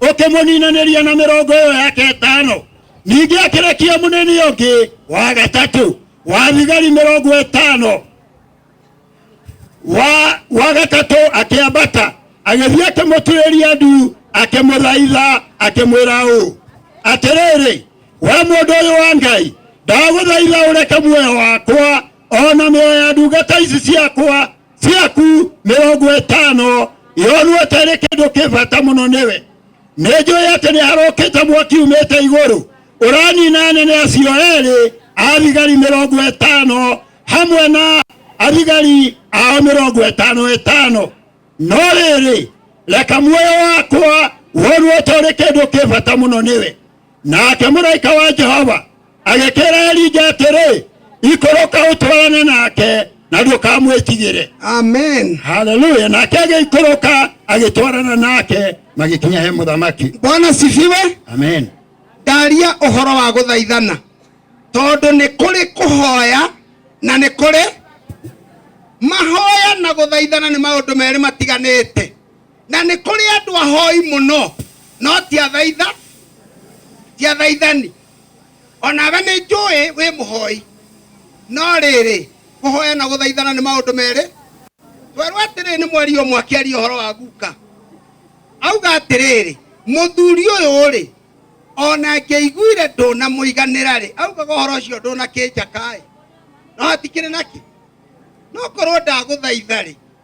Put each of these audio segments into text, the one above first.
ũkĩmũninanĩria na mĩrongo ĩyo yake ĩtano ningĩ akĩrekia mũnini ũngĩ wa gatatũ wa thigari mĩrongo ĩtano wa wa gatatũ akĩambata agĩthiĩ akĩmũtuĩria ndu akĩmũthaitha akĩmwĩra ũũ atĩrĩrĩ we mũndũ ũyũ wa ngai ndagũthaitha ũreke muoyo wakwa o na mĩoyo ya ndungata ici ciakwa ciaku mirongo itano yonuete ri kindu kibata muno niwe ninjui ati ni harukite mwaki umite iguru uranina anene acio eri athigari mirongo itano hamwe na athigari ao mirongo itano itano no riri reka muoyo wakwa wonuete uri kindu kibata muno niwe nake mũraika wa jehova agĩkĩra elija atĩrĩ ikũrũka ũtwarane nake na ndũkamwĩtigĩre Amen. haleluya nake agĩikũrũka agĩtwarana nake magĩkinya he mũthamaki Bwana sifiwe. amen Ndaria ũhoro wa gũthaithana tondũ nĩ kũrĩ kũhoya na nĩ kũrĩ mahoya na gũthaithana nĩ maũndũ merĩ matiganĩte. na nĩ kũrĩ andũ ahoi mũno no ti athaitha ti athaithani onawe nĩ njũĩ wĩ mũhoi no rĩrĩ kũhoya na gũthaithana nĩ maũndũ merĩ twerwo atĩrĩrĩ nĩ mweri ũmwe akĩaria ũhoro wa guka auga atĩrĩrĩ mũthuri ũyũ rĩ ona ngĩiguire ndũnamũiganĩra rĩ augaga ũhoro ũcio ndũnakĩnjakaĩ no hatikĩrĩ nakĩ no korwo ndagũthaitha rĩ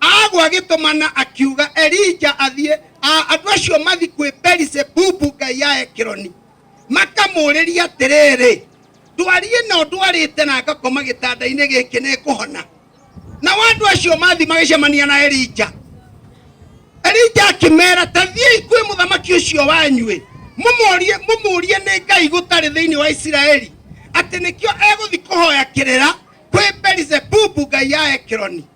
agwa agĩtũmana akiuga elija athiĩ a- andũ acio mathi kwĩ belisebubu ngai ya ekironi makamũũrĩria atĩrĩrĩ ndwari ĩno ndwarĩte na ngakoma gĩtanda-inĩ gĩkĩ nĩ kũhona nao andũ acio mathi magĩcemania na elija elija akĩmera ta thiĩi kwĩ mũthamaki ũcio wanyuĩ mũmũrie mũmũrie nĩ ngai gũtarĩ thĩinĩ wa isiraeli atĩ nĩkĩo egũthi kũhoya kĩrĩra kwĩ belisebubu ngai ya ekironi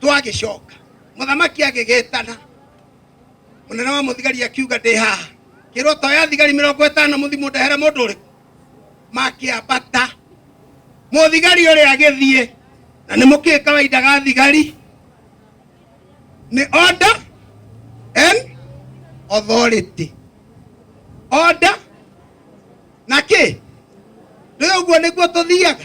twagicoka muthamaki agigitana munene wa muthigari akiuga ndi haha kirwo to ya thigari mirongo itano muthimu ndahere mundu uriku makiambata muthigari uri agithie na ni muki kawaida ga thigari ni order and authority order na ki rä å guo nä guo tå thiaga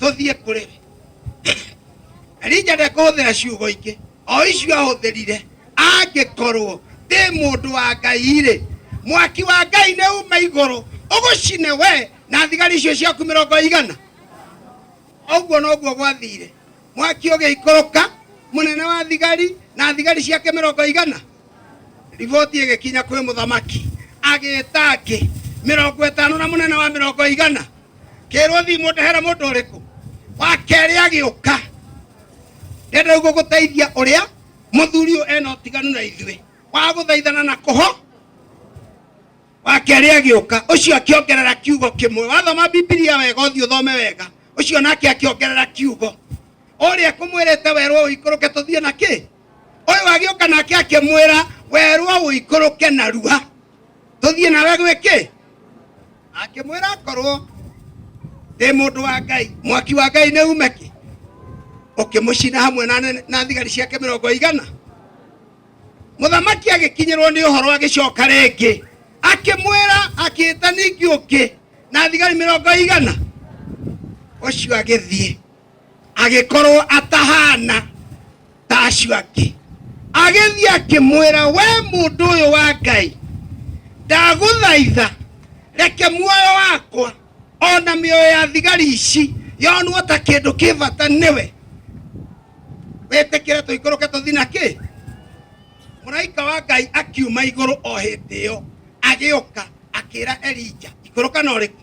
tũthiĩ kũrĩ we elija ndekũhũthĩra ciugo ingĩ o icio ahũthĩrire angĩkorwo ndĩ mũndũ wa ngai-rĩ mwaki wa ngai nĩ uma igũrũ ũgũcine we na thigari icio ciaku mĩrongo igana ũguo noguo gwathire mwaki ũgĩikũrũka mũnene wa thigari na thigari ciake mĩrongo igana Riboti ĩgĩkinya kwĩ mũthamaki, agĩĩta angĩ mĩrongo ĩtano na mũnene wa mĩrongo igana, kĩrwo thiĩ mũndehere mũndũ ũrĩkũ. Wa kerĩ agĩũka, ndenda uguo gũteithia ũrĩa mũthuri ũyũ ena ũtiganu na ithuĩ wa gũthaithana na kũho. Wa kerĩ agĩũka, ũcio akĩongerera kiugo kĩmwe. Wathoma Bibilia wega, ũthiĩ ũthome wega, ũcio nake akĩongerera kiugo. Ũrĩa kũmwĩrĩte werwo ũikũrũke tũthiĩ na kĩ? ũyũ agĩũka nake akĩmwĩra werwo ũikũrũke narua tũthiĩ nawe gwĩkĩ akĩmwĩra akorwo ndĩ mũndũ wa ngai mwaki wa ngai nĩ ume kĩ ũkĩmũcina hamwe na thigari ciake mĩrongo igana mũthamaki agĩkinyĩrwo nĩ ũhoro agĩcoka rĩngĩ akĩmwĩra akĩĩta ningĩ ũngĩ na thigari mĩrongo igana ũcio agĩthiĩ agĩkorwo atahana ta acio angĩ agĩthiĩ akĩmwĩra we mũndũ ũyũ wa ngai ndagũthaitha reke muoyo wakwa ona mĩoyo ya thigari ici yonwo ta kĩndũ kĩ bata nĩwe wĩtĩkĩre tũikũrũke tũthi na kĩ mũraika wa ngai akiuma igũrũ o hĩndĩ ĩyo agĩũka akĩra elija ikũrũka na ũrĩkũ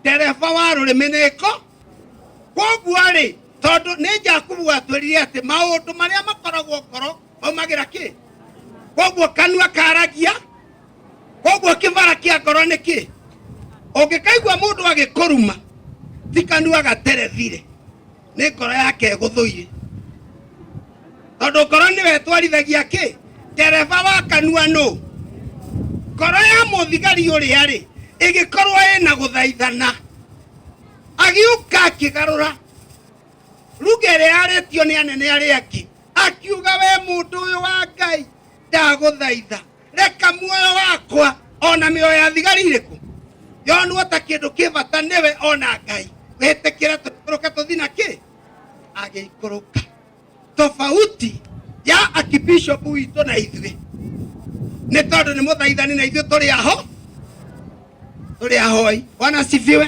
ndereba wa rũrĩmĩ nĩko koguo-rĩ tondũ nĩ jakubu watwĩrire atĩ maũndũ marĩa makoragwo ngoro maumagĩra kĩ koguo kanua karagia koguo kĩbara kĩa ngoro nĩ kĩ ũngĩkaigua mũndũ agĩkũruma ti kanua gaterethire nĩ ngoro yake ĩgũthũire tondũ ngoro nĩwe ĩtwarithagia kĩ ndereba wa kanua nũ ngoro ya mũthigari ũrĩa rĩ ĩgĩkorwo ĩna gũthaithana agiũka akĩgarũra ruga ĩrĩa yarĩtio nĩ anene arĩa angĩ akiuga we mũndũ ũyũ wa ngai ndagũthaitha reka muoyo wakwa ona mĩoyo ya thigari irĩkũ yonwo ta kĩndũ kĩ bata nĩwe ona ngai wĩtĩkĩre tũikũrũke tũthi na kĩ agĩikũrũka tofauti ya akibishopu witũ na ithuĩ nĩ tondũ nĩ mũthaithani na ithuĩ tũrĩ aho tũrĩ ahoi bwana sifiwe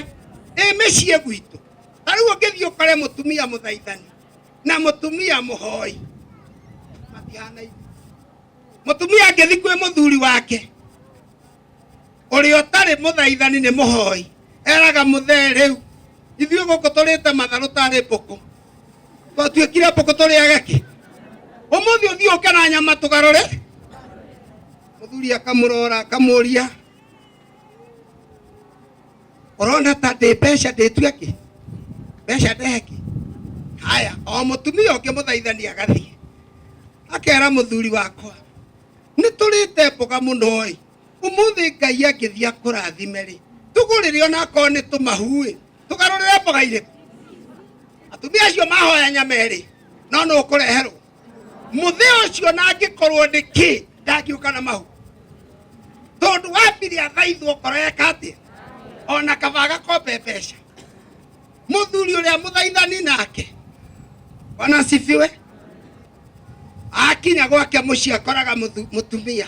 ĩ mĩciĩ gwitũ ta rĩu ũngĩthiĩ ũkore mũtumia mũthaithani na mũtumia mũhoi matihanaine mutumia angithi kwi muthuri wake uria utari muthaithani ni muhoi eraga muthe riu ithuĩ gũkũ tũrĩte matharũ tarĩ mbũkũ twatuĩkire mbũkũ tũrĩage kĩ ũmũthĩ ũthiĩ ũke na nyama tũgarũre mũthuri akamũrora akamũria ũrona ta ndĩ mbeca ndĩtue kĩ mbeca ndehe kĩ haya o mũtumia ũngĩ mũthaithani agathiĩ akera mũthuri wakwa nĩ tũrĩte mboga mũno ĩ ũmũthĩ ngai angĩthiĩ akũrathime rĩ tũgũrĩre onakorwo nĩ tũmahuĩ tũgarũrĩre mboga irĩkũ atumia acio mahoya nyama ĩrĩ no nũ ũkũreherwo muthee ucio na angikorwo ni ki ndangiuka na mau tondu wambire athaithwo ngoro yeka atia ona kaba agakombe mbeca muthuri uria muthaithani nake ona sifiwe akinya gwake muciĩ akoraga mũthu- mũtumia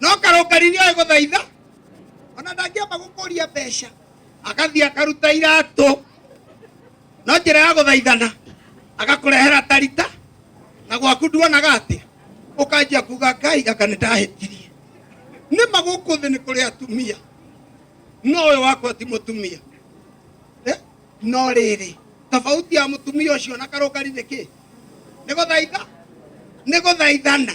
no karũngari nĩoĩ gũthaitha ona ndangĩamba gũkũria mbeca agathiĩ akaruta iratũ no njĩra ya gũthaithana agakũrehera tarita na gwaku nduonaga atĩa ũkanjia kuga ngai gaka nĩ ndahĩtirie nĩ magũkũ thĩ nĩ kũrĩ atumia no ũyũ wakwa ti mũtumia Eh, no rĩrĩ tofauti ya mũtumia ũcio na karũngari nĩ kĩ nĩ gũthaitha nĩ gũthaithana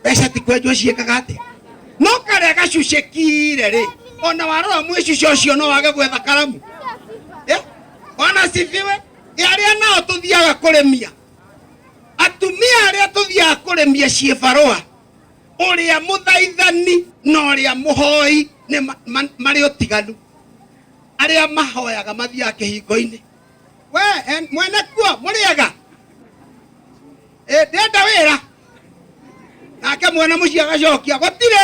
mbeca ti kwenjwo ciĩkaga atĩ no karĩa gacucĩkire rĩ ona warora mwĩcuce ũcio no wage gwetha karamu Eh, ona cibiwe arĩa nao tũthiaga kũrĩmia atumia arĩa tũthiaga kũrĩmia ciĩ barũa ũrĩa mũthaithani na ũrĩa mũhoi nĩ ma- ma- marĩ ũtiganu arĩa mahoyaga mathiaga kĩhingo-inĩ we en- mwene kuo mũrĩega Eh, ndenda wira nake mwana muciĩ agacokia gũtirĩ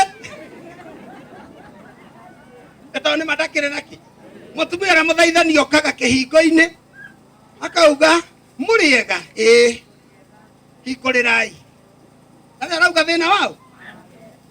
Nĩ tondũ nĩ matakĩrĩ naki mũtumia ũrĩa mũthaithani okaga kĩhingo-inĩ akauga mũrĩega ĩĩ hingũrĩrai na rĩu arauga thĩna wao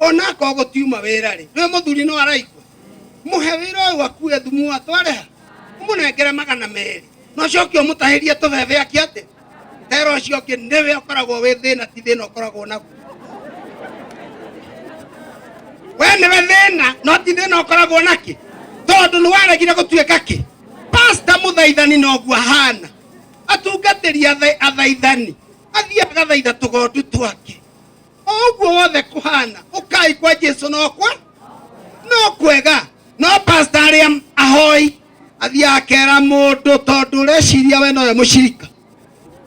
ona akorwo gũtiuma wĩra rĩ nĩ mũthuri no araigua mũhe wĩra ũyũ akue thumu atware ha ũmũnengere magana merĩ no coke ũmũtahĩrie tũbebe aki atĩ wĩra ũcio ũngĩ nĩwe ũkoragwo wĩ thĩna ti thĩna ũkoragwo naguo we nĩwe thĩna no ti thĩna ũkoragwo naki tondũ nĩ waregire gũtuĩka kĩ pasta mũthaithani noguo ahana atungatĩri atha- athaithani athiĩ agathaitha tũgondu twake ũguo wothe kũhana ũkai kwa jesu nokwa no kwega no pasta arĩa ahoi athiaga akera mũndũ tondũ ũreciria we nowe mũcirika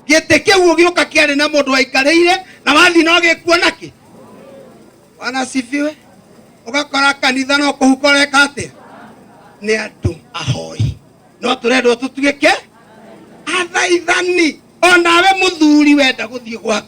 gĩtĩ kĩu ũgĩũka kĩarĩ na mũndũ waikarĩire na wathi no gĩkuona kĩ wanasifiwe ũgakora kanitha no kũhuka ũreka atĩa nĩ andũ ahoi no tũrendwo tũtuĩke athaithani onawe mũthuri wenda gũthiĩ gwaku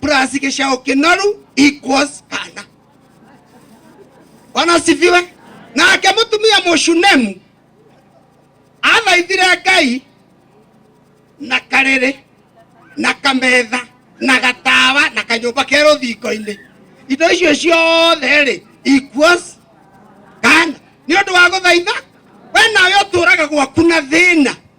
Prasi kesha okenaru equals Hana. Bwana asifiwe. Na akemutumia Moshunemu athaithire Ngai na karere na kametha na gatawa na kanyũmba ke rũthingo-inĩ indo icio ciothe rĩ equals kana nĩ ũndũ wa gũthaitha we nawe ũtũraga gwaku na thĩna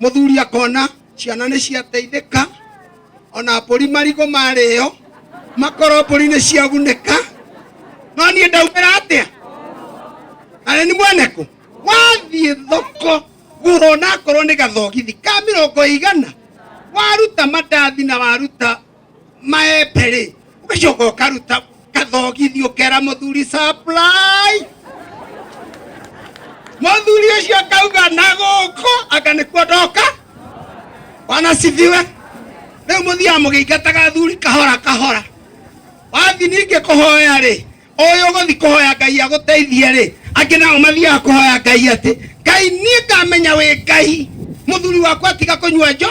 Mũthuri akona ciana nĩ ciateithĩka, ona mbũri marigũ marĩo, makoro mbũri nĩ ciagunĩka, no niĩ ndaumĩra atĩa? Na nĩ mwene kũ? Wathiĩ thoko gũra onakorwo nĩ gathogithi ka mĩrongo ĩigana, waruta mandathi na waruta maembe rĩ ũgacoka ũkaruta kathogithi ũkera mũthuri supply mũthuri ũcio akauga na gũkũ anga nĩkuo ndoka wanacithiwe rĩu mũthiaga mũgĩingataga athuri kahora kahora wathi ningĩ kũhoya rĩ ũyũ ũgũthi kũhoya ngai agũteithie rĩ angĩ nao mathiaga kũhoya ngai atĩ ngai niĩ ngamenya wĩ ngai mũthuri wakwa tiga kũnyua njo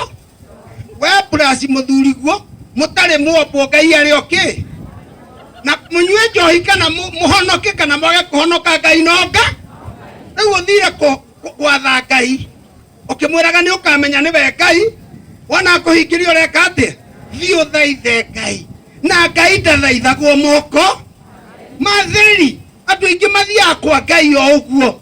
we burasi muthuri guo mutari muombwo ngai ari oki na munyue njohi kana mu- muhonoke kana mwage kuhonoka ngai nonga riu uthire ku- ku- gwatha ngai ukimwiraga ni ukamenya niwe ngai wona akuhingiria ureka atia thii uthaithe ngai na ngai ndathaithagwo moko matheri andå aingä mathiaga kwa ngai o å guo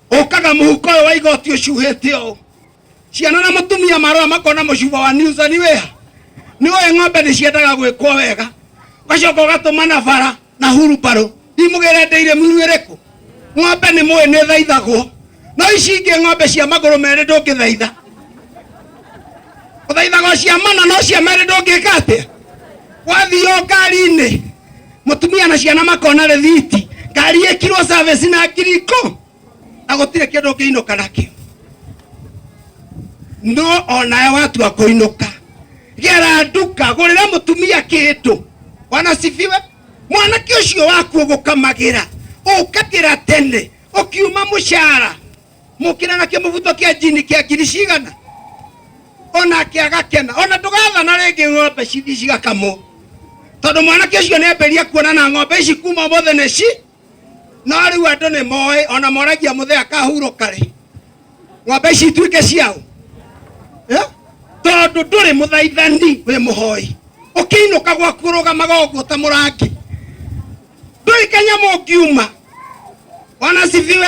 ũkaga mũhuko ũyũ wa igoti ũcuhĩte ũũ ciana na mũtumia marora makona mũcuba wa niusa nĩ wĩha nĩ ũĩ ng'ombe nĩ ciendaga gwĩkwo wega ũgacoka ũgatũma na bara na hurumbarũ imũgĩre ndĩire muru ĩrĩkũ ng'ombe nĩ mũĩ nĩ thaithagwo no ici ingĩ ng'ombe cia magũrũ merĩ ndũngĩthaitha ũthaithaga cia mana no cia merĩ ndũngĩka atĩa wathiĩ o ngari-inĩ mutumia na ciana makona rithiti ngari ikirwo service na ngiri ikũmi na gũtirĩ kĩndũ ũngĩinũka nakĩo no onawe watua kũinũka gera nduka gũrĩra mũtumia kĩndũ wanasifiwe mwanake ũcio waku ũgũkamagĩra ũkagĩra tene ũkiuma mũcara mukira na kimubuto kia njini kia ngiri cigana onake agakena ona ndũgathana rĩngĩ ng'ombe ci- cigakamwo tondũ mwanake ũcio nĩ ambĩria kuona na ng'ombe ici kuma ũmũthĩ nĩ ci no rĩu andũ nĩ moĩ ona moragia mũthee akahurũka rĩ ng'ombe ici ituĩke ciao Eh? tondũ ndũrĩ mũthaithani wĩ mũhoi ũkĩinũka gwaku ũrũgamaga ũguo ta mũrangi ndũrĩ kanyamũ ngiuma wanasifiwe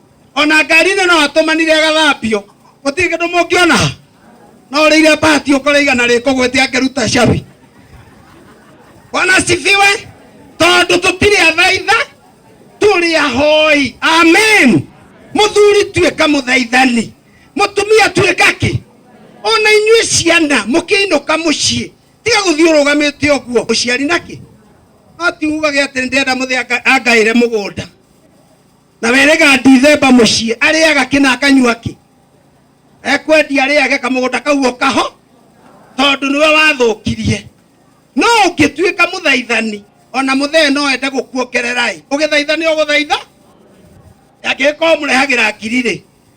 ona ngari-inĩ no atũmanire agathambio gũtirĩ kĩndũ mũngĩona no ũrĩire bahati ũkore igana rĩkũgwĩte angĩruta cabi wanasifiwe tondũ tũtirĩ athaitha tũrĩ ahoi amen mũthuri tuĩka mũthaithani mũtumia tuĩka kĩ ona inyuĩ ciana mũkĩinũka mũciĩ tiga gũthiĩ ũrũgamĩte ũguo ũciari na kĩ no tiugage atĩ ndĩrenda mũthĩ angaĩre mũgũnda na werega ndithemba mũciĩ arĩaga kĩ na akanyua kĩ ekwendia arĩage kamũgũnda kau o kaho tondũ nĩwe wathũkirie no ũngĩtuĩka mũthaithani ona mũthee no ende gũkuongerera-ĩ ũgĩthaitha nĩ ũgũthaitha angĩgĩkorwo mũrehagĩra ngiri-rĩ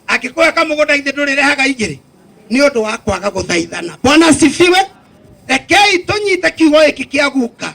angĩkũhe kamũgũnda githĩ ndũrĩrehaga igĩrĩ nĩ ũndũ wa kwaga gũthaithana bwana sifiwe rekei tũnyite kiugo gĩkĩ kĩa guka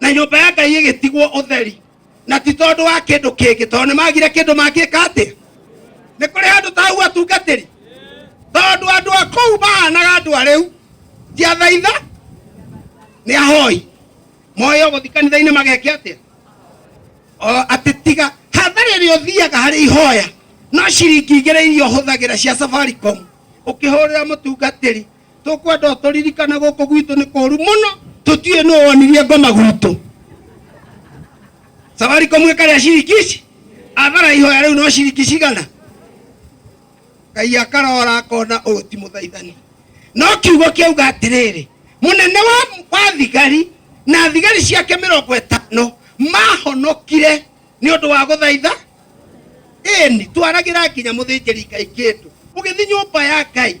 na nyũmba ya ngai ĩgĩtigwo ũtheri na ti tondũ wa kĩndũ kĩngĩ tondũ nĩ magire kĩndũ mangĩka atĩ nĩ kũrĩ handũ tahu atungatĩri tondũ andũ a kũu mahanaga andũ a rĩu ti athaitha nĩ ahoi moyo gũthi kanitha-inĩ mageke atĩa O, atĩ tiga hathara ĩrĩa ũthiaga harĩ ihoya no ciringi igĩrĩ iria ũhũthagĩra cia safaricom ũkĩhũrĩra mũtungatĩri tũkwenda ũtũririkane gũkũ gwitũ nĩ kũru mũno tũtiũĩ nũ wonirie ngoma gwitũ safaricom ĩkarĩa ciringi ici athara ihoya rĩu no ciringi cigana ngai akarora akona ũyũ ti mũthaithani no kiugo kĩauga atĩrĩrĩ mũnene wa, wa thigari na thigari ciake mĩrongo ĩtano mahonokire nĩ ũndũ wa gũthaitha ĩni twaragĩra nginya mũthĩnjĩri ngai kĩndũ ũgĩthi nyũmba ya ngai